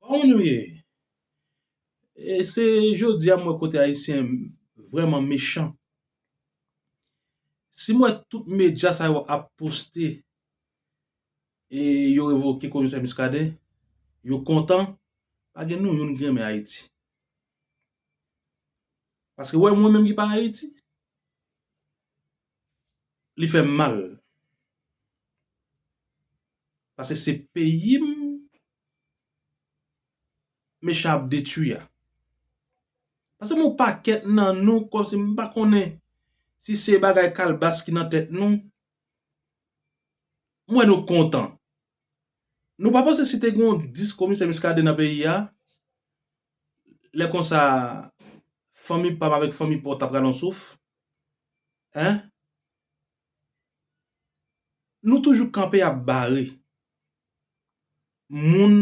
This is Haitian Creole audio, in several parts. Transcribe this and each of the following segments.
Kòman nou ye? E se jodia m wè kote ayisyen vrèman mechan. Si m wè tout medya sa yo ap poste e yo revoke komisè Muscadin, yo kontan, pa gen nou youn ki renmen Ayiti. Paske wè mwen menm ki pa Ayiti, li fè m mal. Paske se peyi m. mechan ap detwi a. Pase m yon pakèt nan nou kòm si m pa konnen si se bagay kalbas ki nan tèt nou, m wè nou kontan. Nou pa panse si te gen yon 10 komisè Muscadin nan peyi a, lè konsa fanmi pa m avèk fanmi pa w ta pral yon souf? Hein? Nou toujou kanpe ap bare moun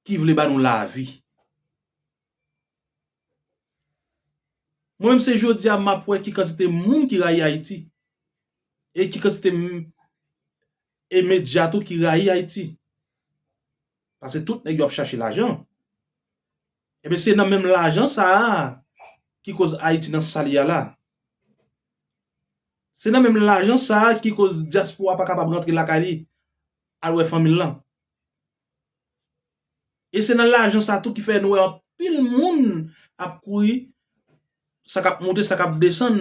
ki vle ba nou lavi. Mwen menm se jodi a map wè ki kantite moun ki rayi Ayiti e ki kantite e medya tou ki rayi Ayiti. Pase tout nèg yo ap chache lajan. Ebyen se nan menm lajan sa a ki koz Ayiti nan sa li a la. Se nan menm lajan sa a ki koz dyaspora pa kapab rantre lakay li al wè fanmi l lan. E se nan lajan sa a tou ki fè nou wè anpil moun ap kouri sa k ap monte sa k ap desann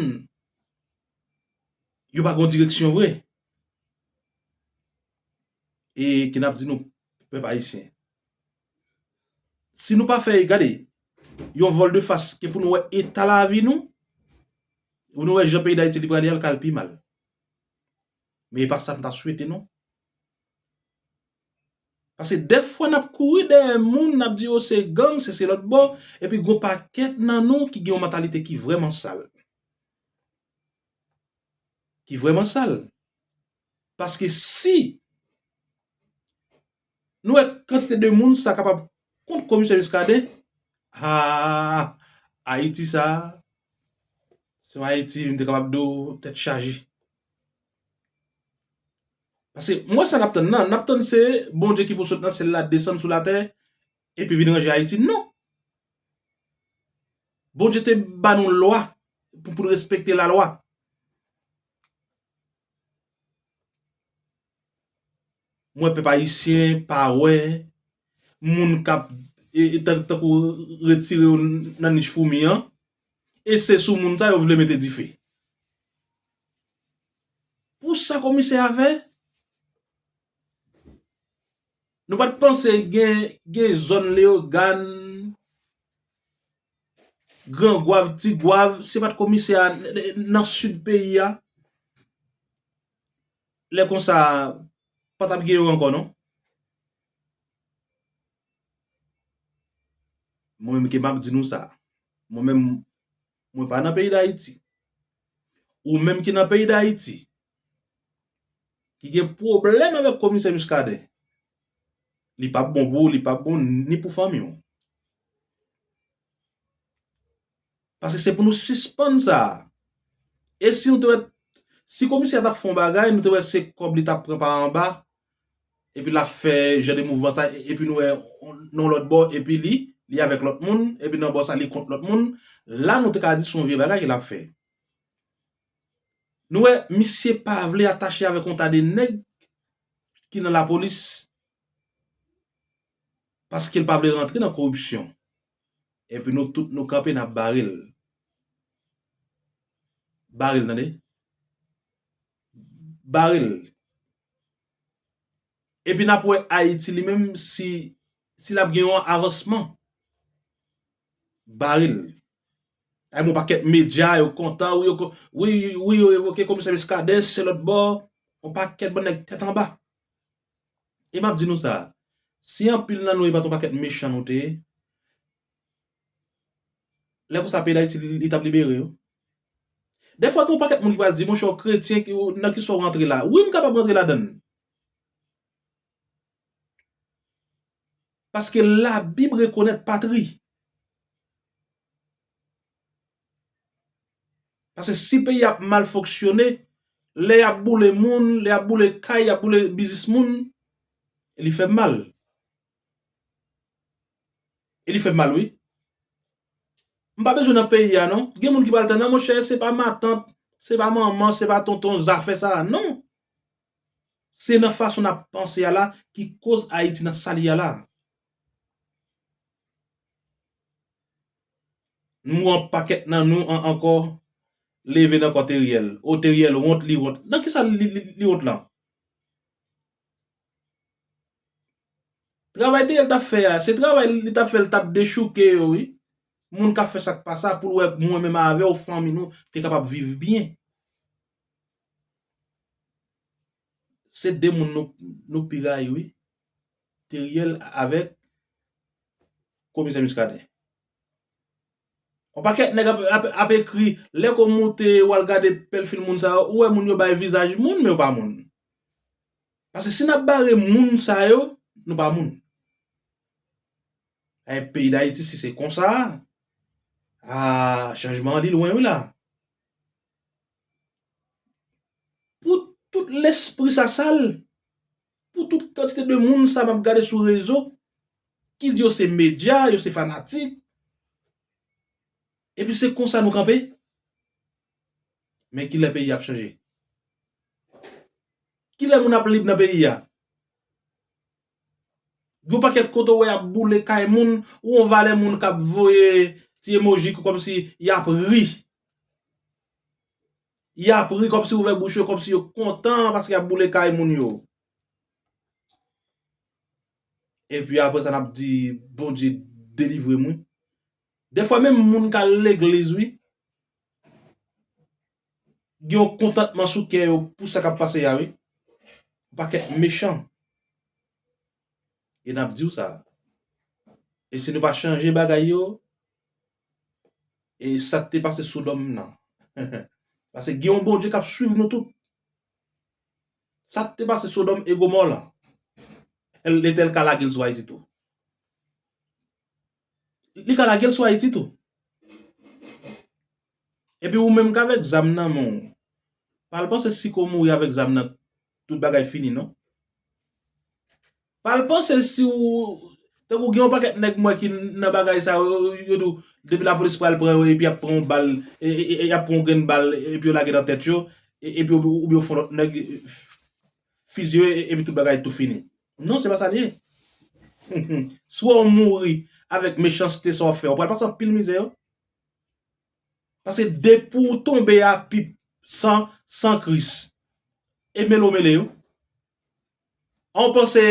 yo pa gon direksyon vre. E ki n ap di nou pèp ayisyen. Si nou pa fè gade yon vòl de fas ke pou nou wè eta lavi nou, pou nou wè jan peyi dayiti li prale a li ka al pi mal. Men e pa sa m ta swete non. Pase defwa n ap kouri dèyè moun n ap di yo se gang se se lòt bò epi gon pakèt nan nou ki gen yon mantalite ki vrèman sal. Ki vrèman sal. Paske si. Nou wè kantite de moun sa kapab kont komisè Muscadin? Haa Ayiti sa a se yon Ayiti m te kapab di w tèt chaje. Paske m wè sa n ap tann nan, n ap tann se Bondye ki pou sot nan syèl la desann sou latè epi vin ranje Ayiti. Non! Bondye te ban nou lwa pou n respekte lalwa. Mwen pèp ayisyen pa wè moun kap tankou retire yo nan nich foumi an e se sou moun sa yo vle mete dife. Pou sa komisè a fè? Nou pat panse gen zòn leogàn, gran gwav, ti gwav se pat komisè a nan sid peyi a? Lè konsa pa tap gen yo ankò non. Mwen menm ke map di nou sa. Mwen menm mwen pa nan peyi dayiti. Ou menm ki nan peyi dayiti. Ki gen pwoblèm avèk komisè Muscadin. Li pap bon pou ou li pap bon ni pou fanmi ou. Paske se pou nou sispann sa a. E si nou te wè, si komisè a t ap fè yon bagay, nou te wè se kòb li t ap pran pa anba, epi l ap fè jan de mouvman sa, epi nou wè nan lòt bò, epi li, li avèk lòt moun, epi nan bò sa li kont lòt moun, la nou te ka di se yon vye bagay l ap fè. Nou wè, misye pa vle atache avèk yon ta de nèg ki nan lapolis, paske l pa vle rantre nan koripsyon. Epi nou tout nou kanpe nap bare l. Bare l tande. Bare l. Epi nap wè Ayiti li menm si si lap gen yon avansman. Bare l. Ay mwen pakèt medya yo kontan wi yo kontan wi wi yo revoke komisè Muscadin se lòt bò yon pakèt bann nèg tèt anba. E map di nou sa, si anpil nan nou e pat yon pakèt mechan nou te ye, lè konsa peyi dayiti li tap libere wi. Dèfwa gen yon pakèt moun ki pral di monchè w kretyen nan ki sa w rantre la. Wi m kapab rantre ladann. Paske labib rekonèt patri. Pase si peyi ap mal fonksyone, lè y ap boule moun, lè y ap boule kay, y ap boule biznis moun, li fè m mal. E li fè m mal wi. M pa bezwen nan peyi a non. Gen moun ki pral di nan monchè se pa matant, se pa manman, se pa tonton zafè sa a. Non! Se nan fason n ap panse a la ki koz Ayiti nan sa li a la. Nou an pakèt nan nou an ankò leve nan kò Teriel. Oh Teriel wont li wont. Nan kisa li wont lan? Travay Teriel tap fè a, se travay li tap fè li tap dechouke yo wi. Moun kap fè sak pa sa poul wè mwen menm avèw fanmi nou te kapab viv byen. Se de moun nou pi rayi wi. Teriel avek komisè Muscadin. On pakèt nèg ap ekri lè kò moute ou al gade pèlfil moun sa yo ou wè moun yo bay vizaj moun men yo pa moun. Pase si nap bare moun sa yo nou pa moun. Ayy peyi dayiti si se konsa aah chanjman an li lwen wi la. Pou tout lespri sa sal, pou tout kantite de moun sa map gade sou rezo, ki di yo se medya, yo se fanatik, epi se konsa nou kanpe? Men kilè peyi a ap chanje? Kilè moun ap lib nan peyi a? Yon pakèt kote w wè y ap boule kay moun, ou yon valè moun k ap voye ti emoji ki kòmsi y ap ri. Y ap ri kòmsi ouvè bouch yo kòmsi yo kontan paske y ap boule kay moun yo. Epi apre sa n ap di Bondye delivre m wi. Dèfwa menm moun k al legliz wi. gen yon kontantman sou kè yo pou sa kap pase a wi. Yon pakèt mechan. E nap diw sa. E si nou pa chanje bagay yo, e sak te pase sodòm nan. Pase gen yon Bondye kap swiv nou tout. Sak te pase sodòm e gomò lan. Letèl ka lagel sou ayiti tou. Li ka lagel sou ayiti tou. Epi ou menm kavek zam nan menw pa al panse si ko mouri avek zam nan tout bagay fini non. Pa al panse si ou tankou gen yon paket neg mwen ki nan bagay sa yo yo di w depi la polis pral pran yo epi yap pran yon bal yap pran yon grenn bal epi yo lage nan tet yo epi ou byen yon fon lot neg fiziye yo epi tout bagay tou fini. Non se pa sa li ye. Swa ou mouri avèk mechanste sa w fè, ou pral pase anpil mizè wi. Paske depi w tonbe a pip san san kris. E mele w mele yo. An ou panse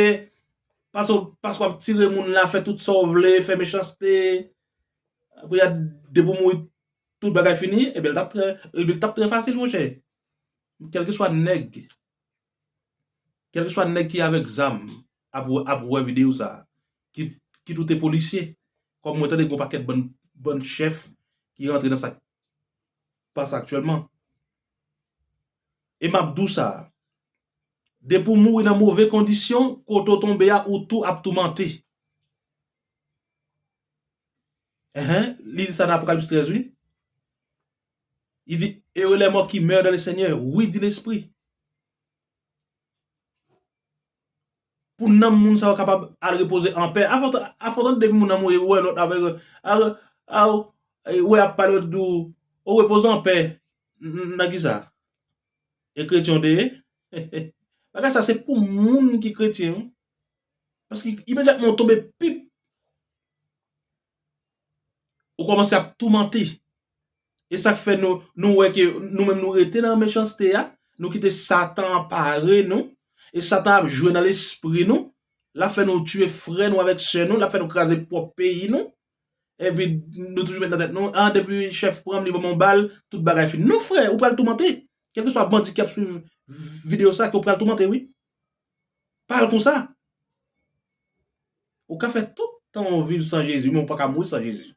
paske w ap tire moun la fè tout sa w vle, fè mechanste, kounye a depi w mouri tout bagay fini, ebyen li t ap trè fasil monchè. Kèlkeswa nèg. Kelkeswa nèg ki avèk zam ap wè video sa, kit ou te polisye, kòm mwen tande gon pakèt bann chèf ki rantre nan sak pase aktyèlman. E map di w sa, depi w mouri nan move kondisyon, kote w tonbe a ou tou ap toumante. Enhen, li di sa nan Apocalypse 13 wi. Li di, Heureux les morts qui meurent dans le Seigneur, oui, dit l'Esprit. Pou nanm moun sa yo kapab al repoze an pè. Afò ou tande depi moun an mouri, ou wè lòt avèk yo. A ou wè y ap pale yo di ou, ou repoze an pè. Nan ki sa? E kretyen ou te ye? Bagay sa se pou moun ki kretyen wi. Paske imediatman ou tonbe pip. Ou komanse ap toumante. E sak fè nou nou wè ke nou menm nou rete nan mechanste a, nou kite satan anpare nou, e satan ap jwe nan lespri nou, lap fè nou tiye frè nou avèk sè nou, lap fè nou kraze pwòp peyi nou, epi nou toujou met nan tèt nou, an depi chèf pranm li banm yon bal, tout bagay fini. Non frè, ou pral toumante. Kèlkeswa bandi ki ap swiv videyo sa ke ou pral toumante wi. Pa al konsa. Ou ka fè tout tan ou viv san Jezi men ou paka mouri san Jezi.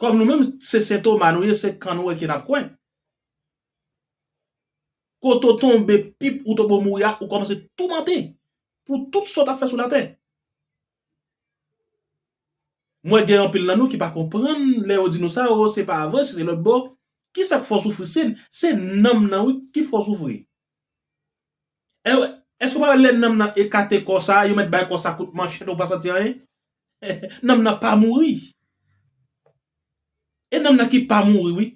Kòm nou menm se Sen Toma nou ye se kan nou wè ki nap kwè. Kote ou tonbe pip ou tobo mouri a ou kòmanse toumante pou tout sa w tap fè sou latè. M wè gen anpil nan nou ki pa konprann lè yo di nou sa oo se pa vre si se lòt bò kisa k fè w soufri se se nanm nan wi ki fè w soufri e wè èske w pa wè lè nanm nan ekate kò sa yo mèt bay kò sa kout manchèt ou pa santi anyen nanm nan pa mouri e nanm nan ki pa mouri wi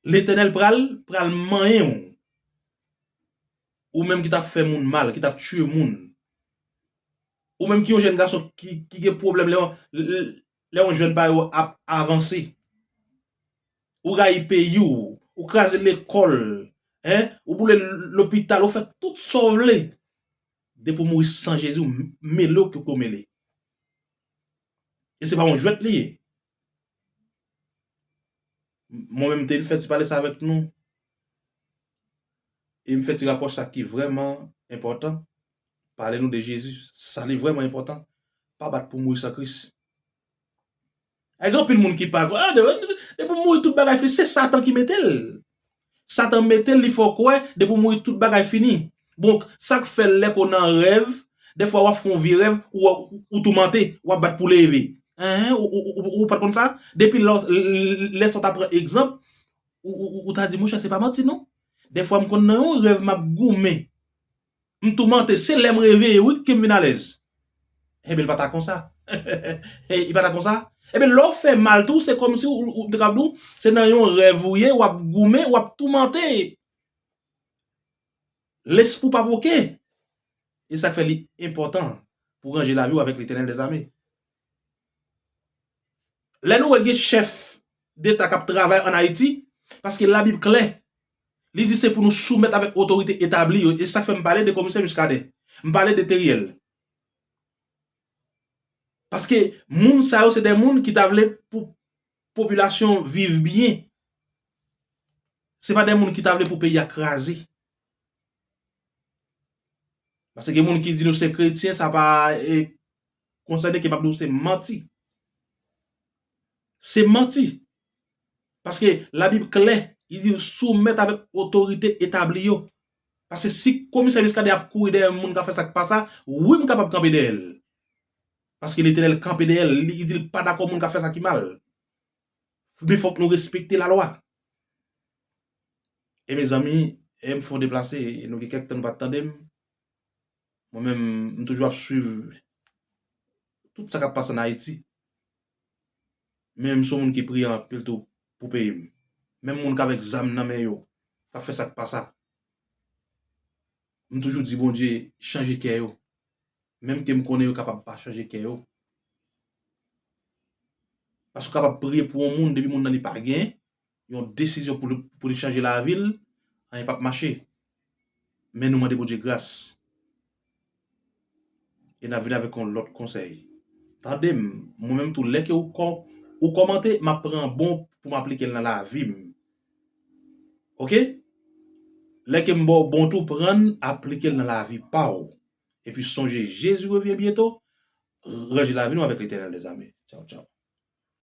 Letènèl pral pral manyen w. Ou menm ki tap fè moun mal, ki tap tye moun. Ou menm ki yon jèn gason ki gen pwoblèm lè yon jèn pa yo ap avanse. Ou rayi peyi w, ou kraze lekòl, ou boule lopital, ou fè tout sa w vle. Depi w mouri san Jezi w mele w ke w mele. E se pa yon jwèt li ye. Mwen menm te vin fè ti pale sa avèk nou. E m fè ti rapò sa ki vrèman enpòtan. Pale nou de Jezi. Sa li vrèman enpòtan. Pa bat pou mouri san Kris. Gen anpil moun ki pa kwè. Depi w mouri tout bagay fini. Se satan ki mete l. Satan metel li fè w kwè depi w mouri tout bagay fini bon sak fè lè ko nan rèv dèfwa wap fon vye rèv ou toumante wap bat pou leve eeh ou pat konn sa depi lò lè sa w ta pran egzanp ou ta di monchè se pa manti non dèfwa m konn nan yon rèv map goumen M toumante, se lè m reveye wi ke m vin alèz. Enben li pa ta konsa. Li pa ta konsa? Enben lè w fè mal tou se kòmsi ou te kab di w se nan yon rèv ou ye, w ap goumen, w ap toumante. Lespri w pa pou oke. E sa k fè li enpòtan pou w ranje lavi w avèk Letènèl dèzame. Lè nou wè gen chèf deta kap travay an Ayiti, paske labib klè, li di se pou nou soumèt avèk otorite etabli yo, e sak fè m pale de komisè Muscadin, m pale de Theriel. Paske moun sa yo se de moun ki ta vle pou popilasyon viv byen, se pa de moun ki ta vle pou peyi a kraze. Paske gen moun ki di nou se kretyen sa pa. Konsèy de ke map di w se manti. Se manti. Paske la bib klè li di soumèt avèk otorite etabli yo. Paske si komisè Muscadin ap kouri dèyè moun kap fè sak pa sa wi m kapab kanpe dèyè l. Paske Letènèl kanpe dèyè l li di l pa dakò moun kap fè sa ki mal. Men fòk nou respekte la lwa. E mezanmi e m fè yon deplase e nou gen kèk tan nou pat tande m. Mwen menm m toujou ap swiv tout sa k ap pase an Ayiti. Men m se yon moun ki priyan anpil tou pou peyi m. Menm moun k avèk zam nan men yo k ap fè sa k pa sa. M toujou di Bondye chanje kè yo. Menm ke m konnen yo kapab pa chanje kè yo. Paske w kapab priye pou yon moun depi moun nan li pa gen, yon desizyon pou li chanje lavi l anyen pap mache men nou mande Bondye gras e nap vini avèk yon lòt konsèy tande m mwen menm tou lè ke ou kòmante map pran bon pou m aplike l nan lavi m ok lè ke m ba w bon tou pran l aplike l nan lavi pa w epi sonje Jezi revyen byento ranje lavi nou avèk Letènèl mèzami tchaw tchaw.